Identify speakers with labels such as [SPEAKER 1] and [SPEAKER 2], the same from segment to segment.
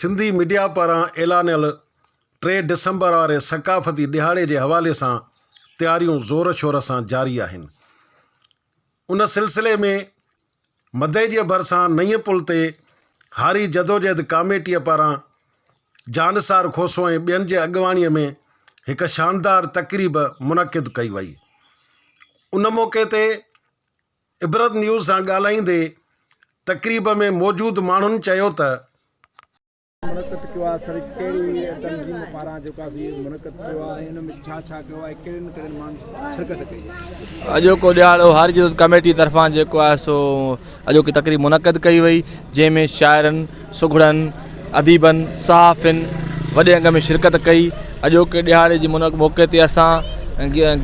[SPEAKER 1] Sindhi media پاران اعلانيل ٽي ڊسمبر واري ثقافتي ڏهاڙي جي حوالي سان تياريون زور شور سان جاري آهن. ان سلسلي ۾ مدئي جي ڀرسان نئين پل تي هاري جدوجهد ڪاميٽيء پاران جانثار کوسو ۽ ٻين جي اڳواڻيء ۾ هڪ شاندار تقريب منعقد ڪئي وئي. ان موقعي تي عبرت نيوز سان ڳالهائيندي تقريب ۾ موجود ماڻهن چيو ته.
[SPEAKER 2] منعقد ڪيو آهي سر ڪهڙي تنظيم پاران جيڪو آهي سي منعقد ڪيو آهي ۽ ان ۾ ڇا ڇا ڪيو آهي ڪهڙين ڪهڙين ماڻهن شرڪت ڪئي آهي. اڄوڪو ڏيهاڙو حاجي
[SPEAKER 3] عزت ڪميٽي طرفان جيڪو آهي سو اڄوڪي تقريب منعقد ڪئي وئي جنهن ۾ شاعرن. سگهڙن، اديبن، صحافين وڏي انگ ۾ شرڪت ڪئي. اڄوڪي ڏهاڙي جي منعقد موقعي تي اسان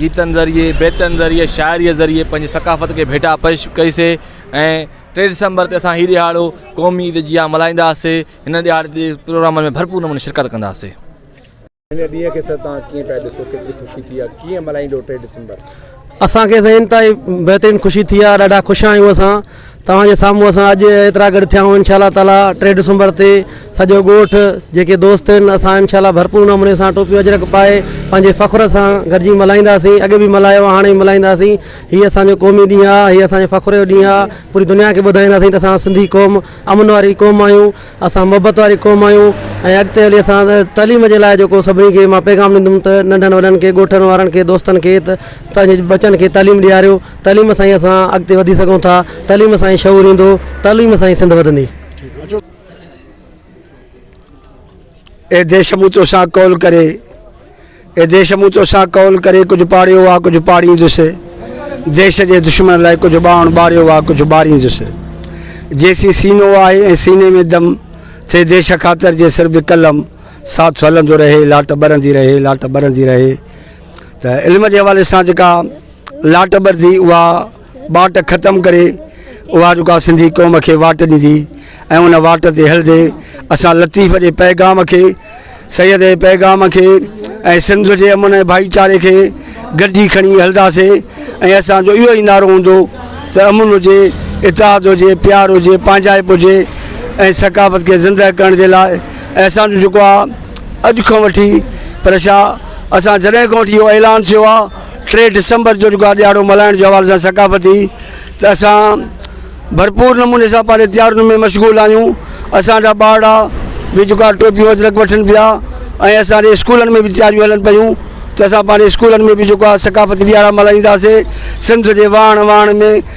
[SPEAKER 3] گيتن ذريعي، بيتن ذريعي، شاعريء ذريعي پنهنجي ثقافت کي ڀيٽا پيش ڪئي سي ۽ ٽي ڊسمبر تي اسان هي ڏهاڙو قومي عيد جيان ملهائيندا سي. هن ڏهاڙي تي پروگرامن ۾ ڀرپور نموني شرڪت ڪندا سي.
[SPEAKER 2] هن ڏينهن کي سر توهان ڪيئن پيا ڏسو ڪيتري خوشي ٿي آهي
[SPEAKER 4] ڪيئن ملهائيندو ٽي ڊسمبر. اسان کي سائين انتهائي بهترين خوشي ٿي آهي ڏاڍا خوش آهيون اسان توهان جي سامهون اسان اڄ ايترا گڏ ٿيا آهيون انشاء الله تعالي ٽي ڊسمبر تي سڄو ڳوٺ جيڪي دوست آهن اسان انشاء الله ڀرپور نموني سان ٽوپيون اجرڪ پائي پنهنجي فخر سان گڏجي ملهائينداسين اڳي به ملهايو هاڻي به ملهائينداسين هي اسان جو قومي ڏينهن آهي هي اسان جي فخر جو ڏينهن آهي پوري دنيا کي ٻڌائينداسين ته اسان سنڌي قوم امن واري قوم آهيون اسان محبت واري قوم آهيون ۽ اڳتي هلي اسان تعليم جي لاء جيڪو سڀني کي مان پيغام ڏيندم ته ننڍن وڏن کي ڳوٺن وارن کي دوستن کي ته پنهنجي ٻچن کي تعليم ڏياريو تعليم سان ئي اسان اڳتي وڌي سگهون ٿا تعليم سان ئي شعور ايندو تعليم سان ئي سنڌ وڌندي.
[SPEAKER 5] اي ديش مون توسان قول ڪري. اي ديش مون توسان قول ڪري ڪجهه پاڙيو آ ڪجهه پاڙيندس ديش جي دشمن لاء ڪجهه ٻانهن ٻاريو آ ڪجهه ٻاريندس جيسين سينو آهي ۽ سيني ۾ دم ٿي ديش خاطر جي سر به قلم ساٿ هلندو رهي لاٽ ٻرندي رهي لاٽ ٻرندي رهي ته علم جي حوالي سان جيڪا لاٽ ٻرندي اها واٽ ختم ڪري اها رڳا سنڌي قوم کي واٽ ڏيندي ۽ ان واٽ تي هلندي اسان لطيف جي پيغام کي سيد جي پيغام کي ۽ سنڌ جي امن ۽ ڀائيچاري کي گڏجي کڻي هلنداسي ۽ اسان جو اهو ئي نعرو هوندو ته امن هجي اتحاد هجي پيار هجي پنهنجائپ هجي ۽ ثقافت کي زندهه ڪرڻ جي لاء ۽ اسان جو جيڪو آ اڄ کان وٺي پر شاهه اسان جڏهن کان وٺي اهو اعلان ٿيو آ ٽي ڊسمبر جو جيڪو آ ڏيهاڙو ملهائڻ جو حوالي سان ثقافتي ته اسان ڀرپور نموني سان پنهنجي تيارين ۾ مشغول آهيون اسان جا ٻارڙا به جيڪو آ ٽوپيون اجرڪ وٺن پيا ۽ اسان جي اسڪولن ۾ به تياريون هلن پيون ته اسان پنهنجي اسڪولن ۾ به جيڪو آ ثقافتي ڏيهاڙا ملهائينداسي سنڌ جي واڻ واڻ ۾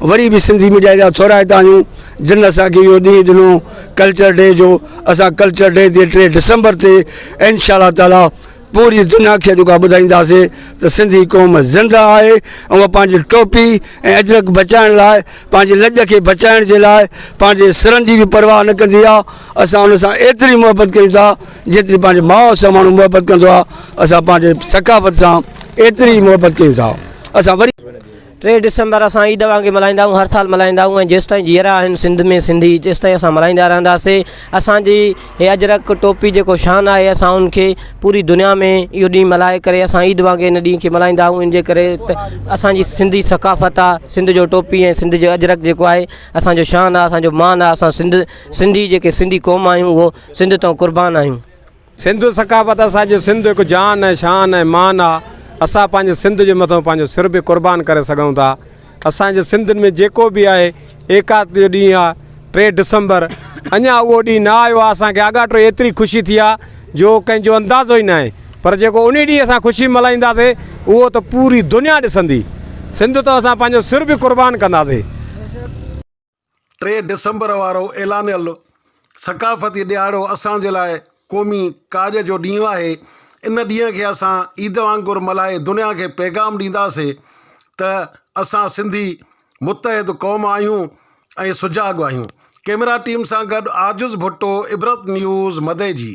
[SPEAKER 5] وري به سنڌي ميڊيا جا ٿورائتا آهيون جن اسان کي اهو ڏينهن ڏنو ڪلچر ڊي جو اسان ڪلچر ڊي تي ٽي ڊسمبر تي انشاء الله تعالٰي پوري دنيا کي جيڪو ٻڌائينداسي ته سنڌي قوم زنده آهي اهو پنهنجي ٽوپي ۽ اجرڪ بچائڻ لاء پنهنجي لڄ کي بچائڻ جي لاء پنهنجي سرن جي به پرواهه نه ڪندي آهي اسان ان سان ايتري محبت ڪيون ٿا جيتري پنهنجي ماء سان ماڻهو محبت ڪندو آهي اسان پنهنجي ثقافت سان ايتري محبت ڪيون ٿا اسان وري ٽي
[SPEAKER 6] ڊسمبر اسان عيد وانگي ملهائيندا آهيون هر سال ملهائيندا آهيون ۽ جيستائين جيئرا آهن سنڌ ۾ سنڌي تيستائين اسان ملهائيندا رهنداسين اسان جي هي اجرڪ ٽوپي جيڪو شان آهي اسان ان کي پوري دنيا ۾ اهو ڏينهن ملهائي ڪري اسان عيد وانگي ان ڏينهن کي ملهائيندا آهيون ان جي ڪري ته اسان جي سنڌي ثقافت آهي سنڌ جو ٽوپي ۽ سنڌ جو اجرڪ جيڪو آهي اسانجو شان آهي اسانجو مان آهي اسان سنڌ سنڌي جيڪي سنڌي قوم آهيون اهو سنڌ تئون قربان آهيون سنڌو ثقافت
[SPEAKER 7] اسان جي سنڌ هڪ جان ۽ شان ۽ مان آ اسان پنهنجي سنڌ جي مٿو پنهنجو سر به قربان ڪري سگهون ٿا اسان جي سنڌ ۾ جيڪو به آهي ايڪات جو ڏينهن آ ٽي ڊسمبر اڃا اهو ڏينهن نه آيو آ اسان کي آڳاٽو ايتري خوشي ٿي آ جو ڪنهن جو اندازو ئي نه آهي پر جيڪو انهي ڏينهن اسان خوشي ملهائيندا سي اهو ته پوري دنيا ڏسندي سنڌ تو اسان پنهنجو سر به قربان ڪندا سي.
[SPEAKER 1] ٽي ڊسمبر وارو اعلانيل ثقافتي ڏهاڙو اسان جي لاء قومي ڪاڄ جو ڏينهن آهي، ان ڏينهن کي اسان عيد وانگر ملهائي دنيا کي پيغام ڏينداسين ته اسان سنڌي متحد قوم آهيون ۽ سجاڳ آهيون، ڪئميرا ٽيم سان گڏ عاجز ڀٽو، عبرت نيوز، مدئجي.